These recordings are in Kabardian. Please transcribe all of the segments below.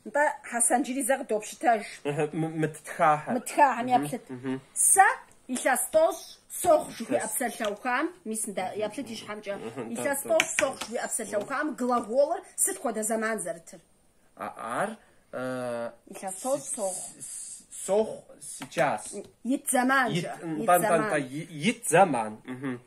Нтӏэ, Хьэсэн, джыри зэ къыдопщытэж. Мы ттхахэр. Мы ттхахэм яплъыт. Сэ илъэс тӏощӏ сохъу жыхуиӏэ псалъэухам, мис нтӏэ, яплъыт и щхьэмкӏэ. Илъэс тӏощӏ сохъу жыхуиӏэ псалъэухам глаголыр сыт хуэдэ зэман зэрытыр? Ар Илъэс тӏощӏ сохъу. сохъу сейчас. Ит зэман жыӏэ. Ит зэман. Ит зэман.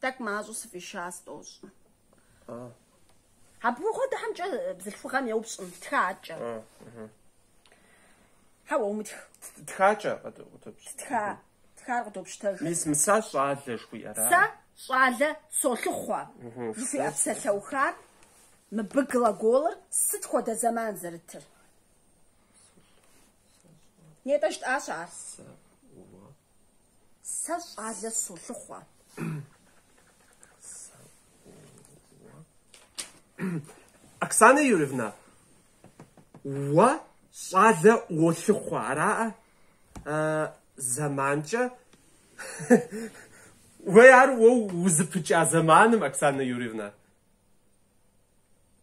Тӏэкӏу мащӏэу сыфӏиша сфӏощӏ. Абы хуэдэхэмкӏэ бзылъхугъэм еупщӏым, тхакӏэ. Хьэуэ, умытх. Тхакӏэ къыдопщ. Тха, тхар къыдопщытэж. Мис мы сэ щӏалэ жыхуиӏэра? Сэ щӏалэ солъыхъуэ жыхуиӏэ псалъэухар мыбы глаголыр сыт хуэдэ зэман зэрытыр? Нетӏэ жытӏащ ар. Сэ щӏалэ солъыхъуэ. Оксана Юрьевна, уэ щӏалэ уолъыхъуэ, араӏэ? Зэманкӏэ? Уей ар уэ узыпыкӏа зэманым, Оксана Юрьевна.